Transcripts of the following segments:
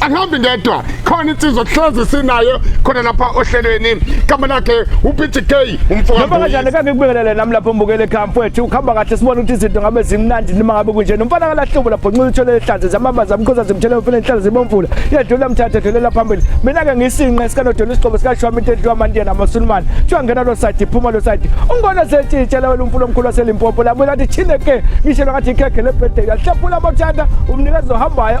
angihambi ngedwa khona insizwa kuhlezi sinayo khona lapha ohlelweni igama lakhe uPG K umfoka Noma kanjani kange kubingelele nami lapho mbukele camp wethu ukhamba kahle sibona ukuthi izinto ngabe zimnandi noma ngabe kunje nomfana kalahlubo lapho nxuza uthole ehlanze zamabaza amkhoza zimthele umfana enhlala zibomvula yedlula mthathe dlulela phambili mina ke ngisinqe sikanodola isiqobo sikashwami into edliwa amandiya namasulumane kuthiwa ngena lo side phuma lo side ungona setshitshela wena umfula omkhulu waselimpopo labuye lathi chine ke ngishelwa ngathi ikhekhe lebhedela hlephula amathanda umnikezi ohambayo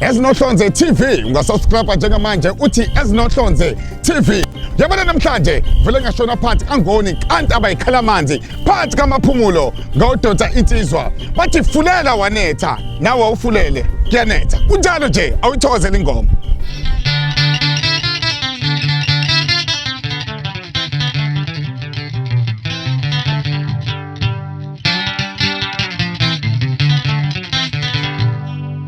ezinohlonze tv ungasubscribe njengamanje uthi ezinohlonze tv yabona namhlanje vele ngashona phansi angoni kanti abayikhala amanzi phansi kamaphumulo ngawudonsa insizwa bathi fulela wanetha nawe awufulele kuyanetha kunjalo nje awuyithokozela ingoma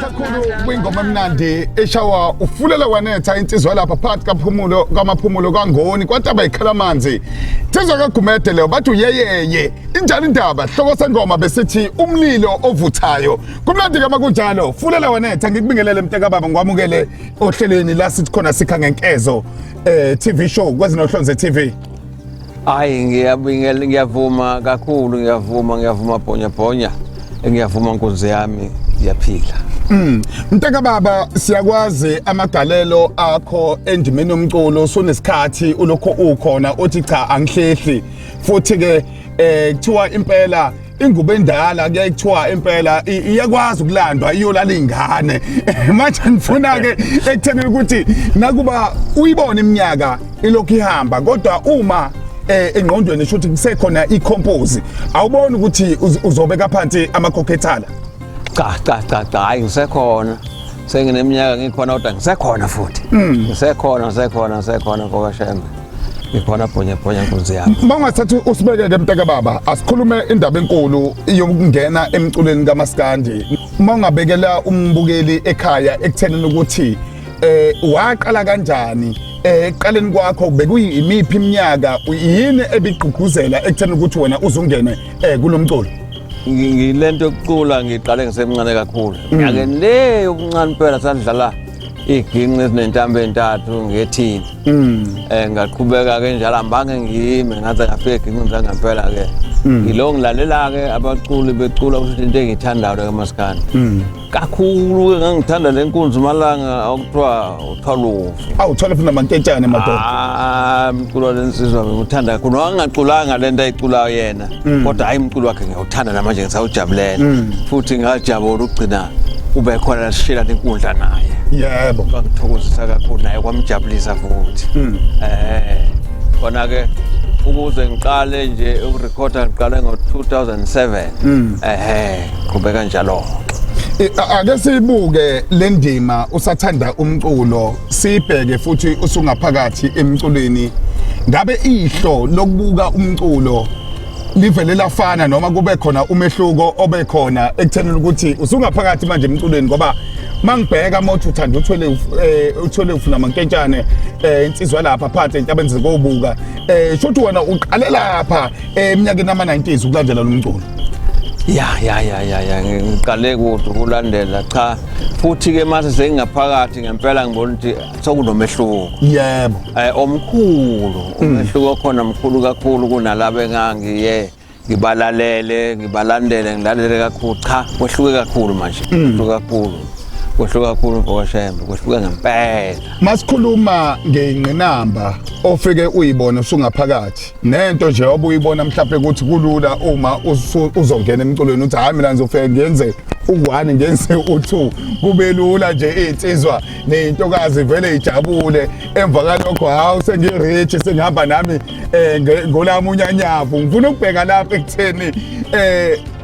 kakhulu kwingoma emnandi eshawa ufulela wanetha insizwa lapha phakathi kaphumulo kamaphumulo kangoni kwataba ikhala amanzi thizwa kagumede leyo bathi uyeyeye injani indaba hloko sengoma besithi umlilo ovuthayo kumnandi kama kunjalo fulela wanetha ngikubingelele mntakababa ngikwamukele ohlelweni la sithi khona sikha ngenkezo eh TV show kwezinohlonze TV Hayi ngiyabingelela ngiyavuma kakhulu ngiyavuma ngiyavuma bhonya bhonya ngiyavuma nkunzi yami ngiyaphila Mm. Mntaka baba siyakwazi amagalelo akho endimeni yomculo sonesikhathi ulokho ukhona othi cha angihlehli futhi ke eh kuthiwa impela ingubo endala kuyaye kuthiwa impela iyakwazi ukulandwa iyolala ingane manje ngifuna ke ekutheni ukuthi nakuba uyibona iminyaka ilokhu ihamba kodwa uma eh, engqondweni shuthi kusekhona icompose awubona ukuthi uzobeka phansi amakhokhethala cha cha cha cha hayi ngisekhona sengineminyaka ngikhona kodwa ngisekhona futhi mm. ngisekhona ngisekhona ngisekhona mfoka shembe ikhona bhonya bhonya nkunzi yami uma ungathatha usibekeke mntaka baba asikhulume indaba enkulu yokungena emculweni kamaskandi uma ungabekela umbukeli ekhaya ekuthenini ukuthi eh waqala kanjani eh, eqaleni kwakho bekuyimiphi iminyaka yini ebigqugquzela ekutheni ukuthi wena uzungene eh kulomculo ngilento yokucula ngiqale ngisemncane kakhulu mm. nyakeni le yobuncane impela sadlala iginqi ezinentambo entathu ngethini um mm. eh, ngaqhubeka ke njalo ambange ngiyime ngaze ngafika eginqini zangempela ke mm. yilo ngilalela-ke abaculi becula kusho into engiyithandayo-ke maskandi kakhulu ke ngangithanda le nkunzi malanga okuthiwa uthwalufu awu thole funa manketshane madoda ah mculo lensizwa ngithanda kakhulu wangaculanga lento ayiculayo yena mm. kodwa hayi umculo wakhe ngiyawuthanda namanje ngisawujabulela mm. futhi ngajabula ukugcina ube khona lasishela nenkundla naye yebo kwangithokozisa kakhulu naye kwamjabulisa futhi mm. eh khona ke ukuze ngiqale nje ukurekhoda ngiqale ngo-2007 ehe qhubeka njalo I- a- ake siyibuke le ndima usathanda umculo sibheke futhi usungaphakathi emculweni ngabe ihlo lokubuka umculo livele lafana noma kube khona umehluko obe khona ekuthenini ukuthi usungaphakathi manje emculweni ngoba mangibheka mothi uthanda uthwele uf- eh, uthwele ufuna mankentshane eh, insizwa lapha phansi entabeni zikobuka eh shothi wena uqale lapha Eh, eminyakeni ama-90s ukulandela lo mculo ya ya ya ya ya ngiqale kude ukulandela cha futhi-ke mase sengingaphakathi ngempela ngibona ukuthi sokunomehluko yebo um omkhulu mm. umehluko okhona mkhulu kakhulu kunalaba engangiye ngibalalele ngibalandele ngilalele kakhulu cha kwehluke kakhulu manje mm. kwehluke kakhulu kwehluka kakhulu mfowashembe kwehluka ngempela masikhuluma ngeyingqinamba ofike uyibona usungaphakathi nento nje obuyibona mhlawumbe ukuthi kulula uma uzongena emculweni uthi hayi mina ngizofike ngenze u-one ngenze u-two kube lula nje iy'nsizwa ney'ntokazi vele ijabule emva kalokho hawu sengi-rich sengihamba nami um ngolami unyanyavu ngifuna ukubheka lapho ekutheni um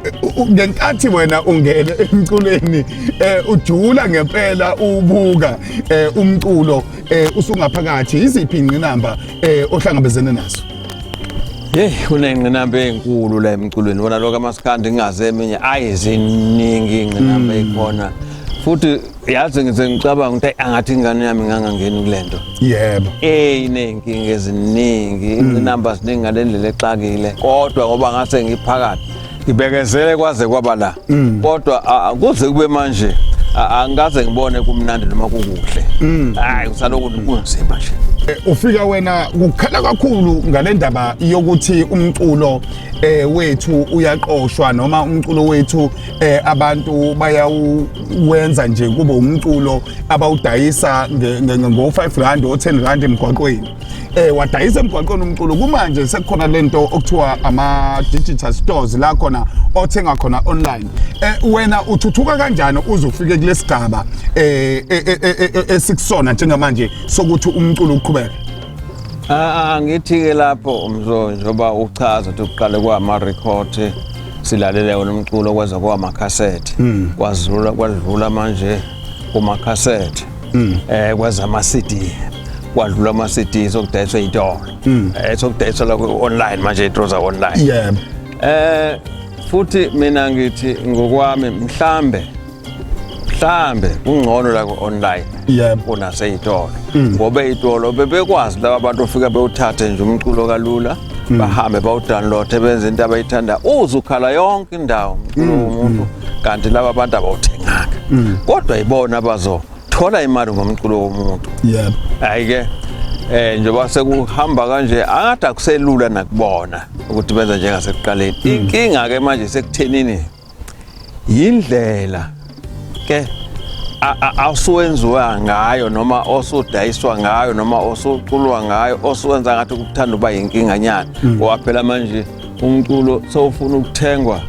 ngenkathi wena ungene emculweni eh ujula ngempela ubuka eh umculo eh usungaphakathi iziphi ingqinamba eh ohlangabezene nazo Hey kunengqinamba enkulu la emculweni wona lokho amaskandi ngingaze eminye ayi ziningi ingqinamba ekhona futhi yazi ngize ngicabanga ukuthi angathi ingane yami ngangangeni kulento yebo eh inenkinga eziningi ingqinamba ziningi ngalendlela exakile kodwa ngoba ngase ngiphakathi ngibekezele kwaze kwaba la mm. kodwa kuze kube manje angikaze ngibone kumnandi noma kukuhle mm. hayi usaloku kunzima nje eh, ufika wena kukhala kakhulu ngalendaba yokuthi umculo eh wethu uyaqoshwa noma umculo wethu eh abantu bayawenza nje kube umculo abawudayisa ngo 5 rand o 10 rand emgwaqweni eh wadayisa emgwaqweni umculo kumanje sekukhona lento okuthiwa ama digital stores la khona othenga khona online eh wena uthuthuka kanjani uze ufike kulesigaba eh esikusona njengamanje sokuthi umculo uqhubeke Ah ngithi-ke lapho umzo njengoba uchaza ukuthi kuqale kwama-record silalele wona umculo kwaze kwamakhasethi kwazula kwadlula manje kumakhasethi mm. eh kwaza ama CD kwadlula ama CD sokudayiswa itolo mm. eh sokudayiswa la online manje itroza online yeah eh futhi mina ngithi ngokwami mhlambe mhlambe kungcono la ku-online yebo kunaseyitolo mm. ngoba eyitolo bebekwazi laba bantu ofika bewuthathe nje umculo kalula Mm. bahambe bawudownloade benze into abayithanda uze ukhala yonke indawo mculo mm, womuntu mm. kanti laba bantu abawuthenganga kodwa yibona abazothola imali ngomculo womuntu yebo hayi-ke eh njengoba sekuhamba kanje angathi akuselula nakubona ukuthi benza njengasekuqaleni inkinga-ke manje sekuthenini yindlela ke asuwenziwa ngayo noma osudayiswa ngayo noma osuculwa ngayo osuwenza ngathi ukuthanda uba yinkinganyana hmm. ngoba phela manje umculo sowufuna ukuthengwa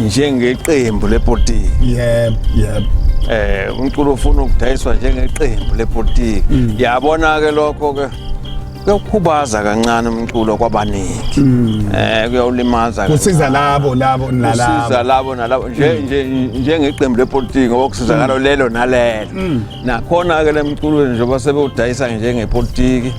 njengeqembu lepolitiki yebo yebo eh umculo ufuna ukudayiswa njengeqembu lepolitiki hmm. yabona ke lokho ke kuyokhubaza kancane umculo kwabaningi hmm. eh kuyawulimaza kusiza labo labo nalabo kusiza labo nalabo nje hmm. nje njengeqembu lepolitiki ngoba kusizakala hmm. lelo nalelo nakhona ke lemculweni njengoba sebewudayisa njengepolitiki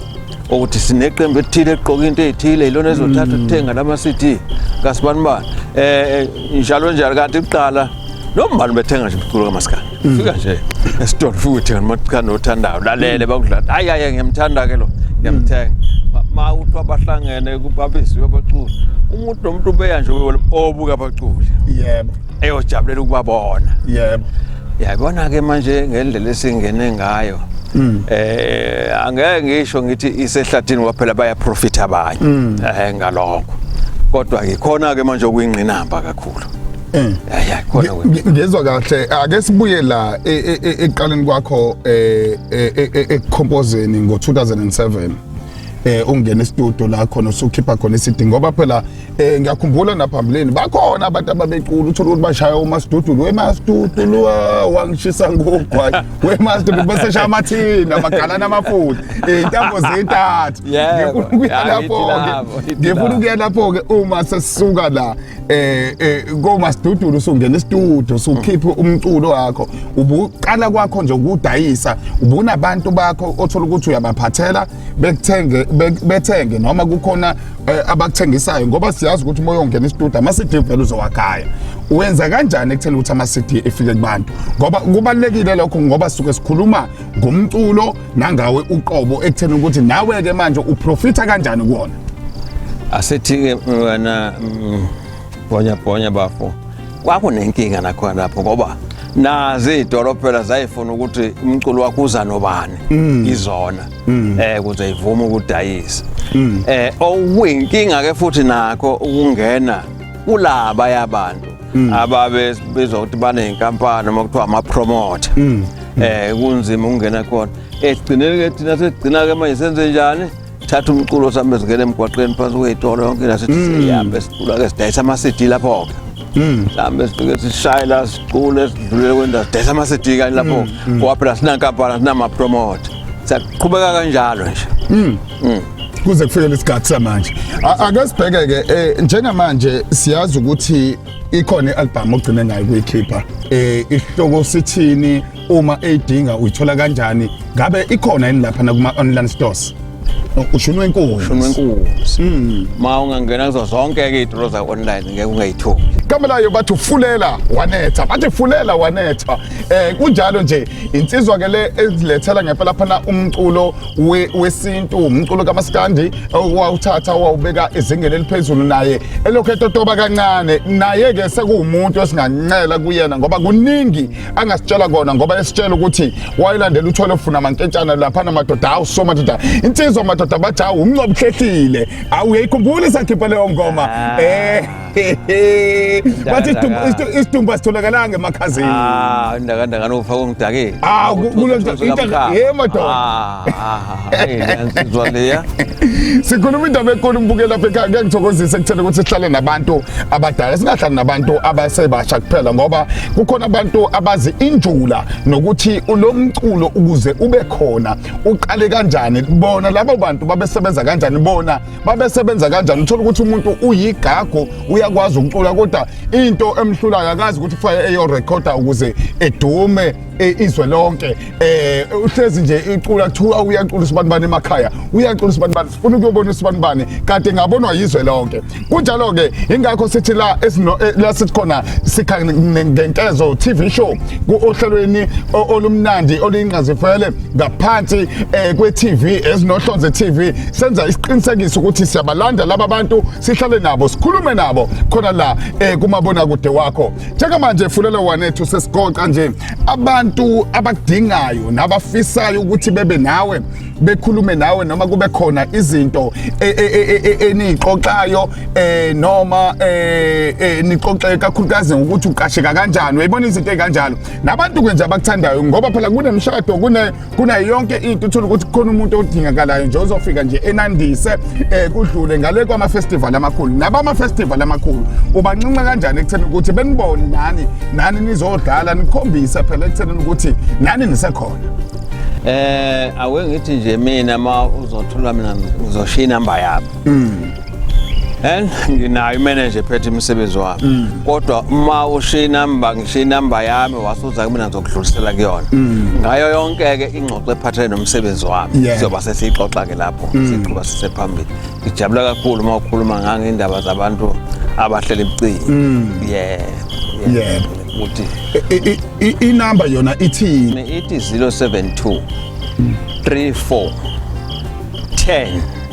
ukuthi sineqembu elithile eqoka into ezithile ilona ezothatha ukuthenga lama CD kasibani bani eh, eh njalo njalo kanti kuqala noma ubani bethenga nje umculo kamaskandi mm. fika nje esitolo fika uthenga umaskandi othandayo lalele mm. bakudlala hayi hayi ngiyamthanda ke lo ngiyamthenga mm. ma uthi abahlangene kubabisiwe abaculi umuntu nomuntu ubeya nje obuka abaculi yebo eyojabulela ukubabona yebo yabona ke manje ngendlela esingene ngayo Mm. eh angeke ngisho ngithi isehlathini kwaphela baya profit abanye eh ngalokho kodwa ngikhona ke manje okuyingqinamba kakhulu Eh. Yaya khona wena. Ngi- ngizwa kahle ake sibuye la e- e- e- ekuqaleni kwakho eh, eh, eh, eh, ekukhompozeni ngo-2007 eh ungena estudio la khona usukhipha khona isidi ngoba phela eh ngiyakhumbula naphambilini bakhona abantu ababecula uthola ukuthi bashaya umastudio wemastudio wangishisa ngogwayi wemastudio bese shaya amathini amagalani amafuthi eh, intambo zintathu Yebo. ngifuna ukuya Ya, ngithi lapho-ke lapho, ngithi ngifuna lapho. ukuya lapho-ke uma sesisuka la eh eh koma sidudulu usungena istudio usukhiphe umculo wakho ubuqala kwakho nje ukudayisa ubunabantu bakho othola ukuthi uyabaphathela bekuthenge bethenge noma kukhona eh, abakuthengisayo ngoba siyazi ukuthi uma uyongena istudio ama CD vele uzowakhaya wenza kanjani ekutheni ukuthi ama CD efike kubantu ngoba kubalekile lokho ngoba suke sikhuluma ngomculo nangawe uqobo ekutheni ukuthi nawe ke manje uprofitha kanjani kuwona asithike wena mm, bonya bonya bafo kwakunenkinga nakhona lapho ngoba nazi idolophela zayifuna ukuthi umculo wakho uza nobani mm. izona mm. eh kuze ivume ukudayisa eh okuyinkinga ke futhi nakho ukungena kulaba yabantu mm. ababe bezwa ukuthi baney'nkampani uma kuthiwa ama-promoter um kunzima ukungena khona ekugcineni-ke thina sesigcina-ke manje senze njani thatha umculo sambe singena emgwaqeni phansi kwey'tolo yonke nasithi mm. sihambe sicula-ke sidayisa ama-cd lapho-ke mm. sihambe sifike sishaye la sicule sidlulele kwendawo sidayisa ama-cd kanye lapho-ke mm, ngoba phela sinankampani sinamapromote siyaqhubeka kanjalo nje mm. kuze kufike lesikhathi samanje ake sibheke ke eh, njengamanje siyazi ukuthi ikhona i-album ogcine ngayo kuyikhipha eh isihloko sithini uma eyidinga uyithola kanjani ngabe ikhona yini lapha na kuma online stores ushunwe inkunzi ushunwe inkunzi mm. ma ungangena kuzo zonke ke idro za online ngeke ungayithobi kamelayo bathi ufulela wanetha bathi fulela wanetha eh kunjalo nje insizwa ke le ezilethela ngempela phana umculo wesintu umculo kamaskandi owawuthatha wawubeka ezingeni eliphezulu naye elokhu etotoba kancane naye-ke sekuwumuntu esingancela kuyena ngoba kuningi angasitshela kona ngoba esitshela ukuthi wayelandela uthole ofuna amankentshana laphana madoda hawu so madoda insizwa madoda bathi hawu umncobuhlehlile awuyeyikhumbuli sakhipha leyo ngoma um bathi isidumbu asitholakalanga emakhazeni ah ndakanda kanofa kongidake ah kulento ye madoda ah, ah, ah sizwa leya sikhuluma indaba enkulu mbukela lapha ekhaya ngeke ngithokozise kuthena ukuthi sihlale nabantu abadala singahlali nabantu abasebasha kuphela ngoba kukhona abantu abazi injula nokuthi ulomculo ukuze ube khona uqale kanjani bona labo bantu babesebenza kanjani bona babesebenza kanjani uthola ukuthi umuntu uyigago uyakwazi ukucula kodwa into emhlulayo akazi ukuthi kufanele eyorekhoda ukuze edume e, izwe lonke um uhlezi nje icula kuthiwa uyacula usibanibani emakhaya uyacula usibanibani sifuna ukuyobona usibanibani kade ngabonwa yizwe lonke kunjalo-ke yingakho sithi la e, la sisikhona sikha ngenkezo tv show ohlelweni olumnandi oluyingqazifele ngaphansi eh, kwe-TV ezinohlonze TV senza isiqinisekiso ukuthi siyabalanda laba bantu sihlale nabo sikhulume nabo khona la eh, kumabona kude wakho njengamanje fulela wanethu sesigoqa nje abantu abakudingayo nabafisayo ukuthi bebe nawe bekhulume nawe noma kube khona izinto e, e, e, enixoxayo eh noma eh, eh nixoxe kakhulukazi ngokuthi uqasheka kanjani uyibona izinto ezikanjalo nabantu kwenje abakuthandayo ngoba phela kunemshado kune kuna yonke into uthola ukuthi khona umuntu odingakalayo nje ozofika nje enandise eh kudlule ngale kwama festival amakhulu nabama festival amakhulu ubancinca kanjani ekutheni ukuthi benibone nani nani nizodlala nikhombise phela ekutheni ukuthi nani nisekhona eh awengithi nje mina ma uzothola mina ngizoshiya inamba yakho mm. and nginayo imanager ephethe imisebenzi wami mm. kodwa uma ushiya inamba ngishiya inamba yami wasuza kumina ngizokudlulisela kuyona mm. ngayo yonke ke ingxoxo ephathele nomsebenzi wami sizoba sesiyixoxa ke lapho mm. siqhuba sisephambili ngijabula kakhulu uma ukhuluma ngangendaba zabantu abahlele ebucini yeah yeah ukuthi inamba yona ithini ithi 072 34 10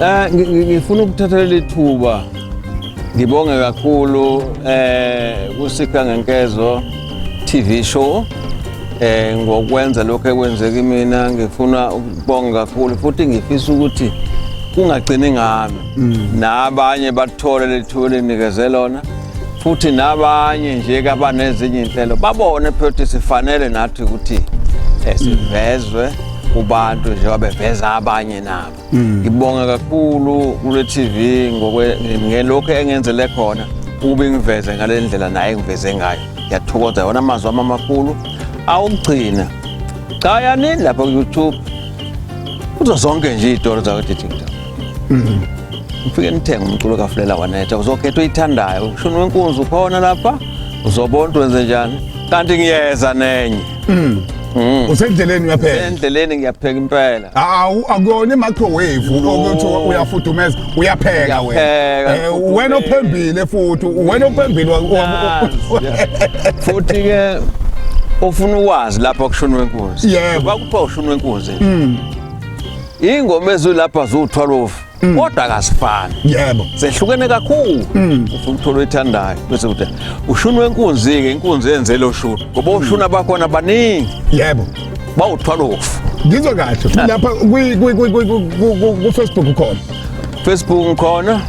Eh ngifuna ukuthatha leli thuba ngibonge kakhulu eh kusika ngenkezo TV show eh ngokwenza lokho ekwenzeka imina ngifuna ukubonga kakhulu futhi ngifisa ukuthi kungagcini ngami mm. nabanye bathole lethuba elinikeze lona futhi nabanye nje kabanezinye inhlelo babone phela ukuthi sifanele nathi ukuthi eh, sivezwe kubantu njengoba beveza abanye nabo Mm. Ngibonga kakhulu kule TV ngokwe ngelokho engenzele khona ube ngiveze ngalendlela naye ngiveze ngayo. Ngiyathokoza wona amazwi ama makhulu awugcina. Cha yanini lapha ku YouTube. Kuzo zonke nje izitolo zakwa TikTok. Mm. Ngifike nithenge umculo kaFlela wanetha uzokhetha uyithandayo. Ushuni wenkunzi ukhona lapha. Uzobona wenze njani. Kanti ngiyeza nenye. Mm. Mm. Usendleleni uyapheka. Endleleni ngiyapheka impela. Awu akuyona i-microwave ukuthi uyafudumeza uyapheka wena. Eh, wena ophembile futhi wena ophembile futhi ke ufuna ukwazi lapha kushunwe inkunzi. Yebo. Bakupha ushunwe inkunzi. Mm. Ingoma ezulapha zuthwalofu. Mm. kodwa kasifani yebo sehlukene kakhulu mm. ufuna ukuthola oyithandayo bese uthi ushuni wenkunzi-ke inkunzi yenzele oshuni ngoba mm. oshuni abakhona baningi yebo bawuthwala ofu ngizwa kahle ah. lapha kufacebook ukhona facebook ngikhona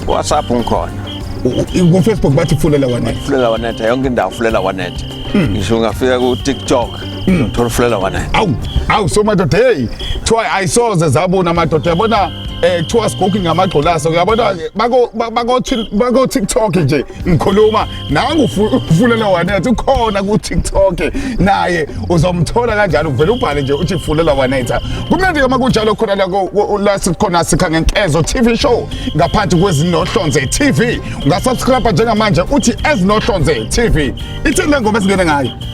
whatsapp ngikhona kufacebook bathi fulela wanetha fulela wanetha yonke indawo fulela wanetha ngisho ungafika kutiktok Mm, tholufulela wena. Awu, awu so madoda hey, try I saw the zabona madoda yabona eh kuthiwa sigogi ngamagxolaso uyabona bako bako bako TikTok nje ngikhuluma nangu ufulela wanethi ukhona ku TikTok naye uzomthola kanjalo uvela ubhale nje uthi fulela wanetha kumnandi uma kunjalo khona la la sikhona sikha ngenkezo TV show ngaphansi kwezinohlonze TV ungasubscribe njengamanje uthi ezinohlonze TV ithini lengoma esingene ngayo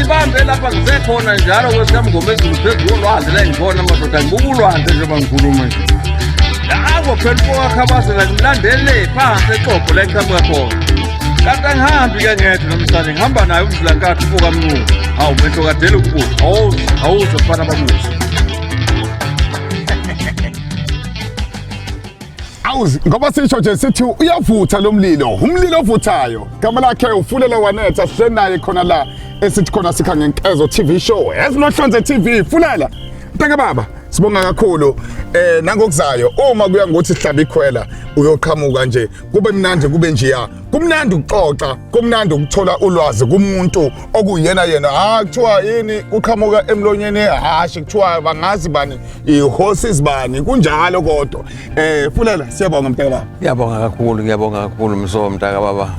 Ibambe lapha ngise khona njalo kwesikhamngomezulu phezu kolwandle la ngibona amadoda ngibuka ulwandle njengoba ngikhuluma nje. Lawo phela ukwakhabazela ngilandele phansi exogo la ngiqhamuka khona. Kanti angihambi ke ngedwa namhlanje ngihamba naye umvula nkathu ubuka mnculu. Hawu mehlo kadele ukubuka. Hawu hawu zofana bamuhle. awu ngoba sisho nje sithi uyavutha lo mlilo umlilo ovuthayo gama lakhe ufulela wanetha sihle naye khona la esithi khona sikha ngenkezo TV show ezinohlonze TV fulela ntaka baba sibonga kakhulu eh nangokuzayo uma kuya ngothi sihlaba ikhwela uyoqhamuka nje kube mnandi kube njeya kumnandi ukuxoxa kumnandi ukuthola ulwazi kumuntu okuyena yena ha ah, kuthiwa yini kuqhamuka emlonyeni ehashe kuthiwa bangazi bani ihorses bani kunjalo kodwa eh fulela siyabonga mntaka baba ngiyabonga kakhulu ngiyabonga kakhulu mso mntaka baba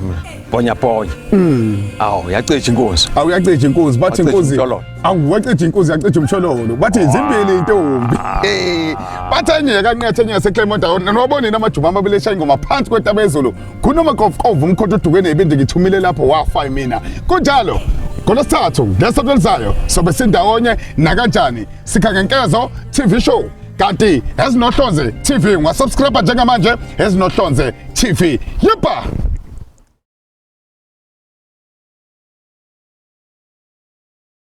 bonya bonya mm awu yacija inkunzi awu yacija inkunzi bathi inkunzi awu wacija inkunzi yacija umshololo bathi izimbili intombi ah. eh bathi enye kanqethe enye seclermont awona nobonini amajuma amabili eshaya ingoma phansi kwetaba ezulu kunomakovukovu umkhonto odukwe nebindi ngithumile lapho wafa mina kunjalo ngolwesithathu ngesonto elizayo sobe sindawonye nakanjani sikha ngenkezo tv show kanti ezinohlonze tv ungasubscribe njengamanje ezinohlonze tv yebha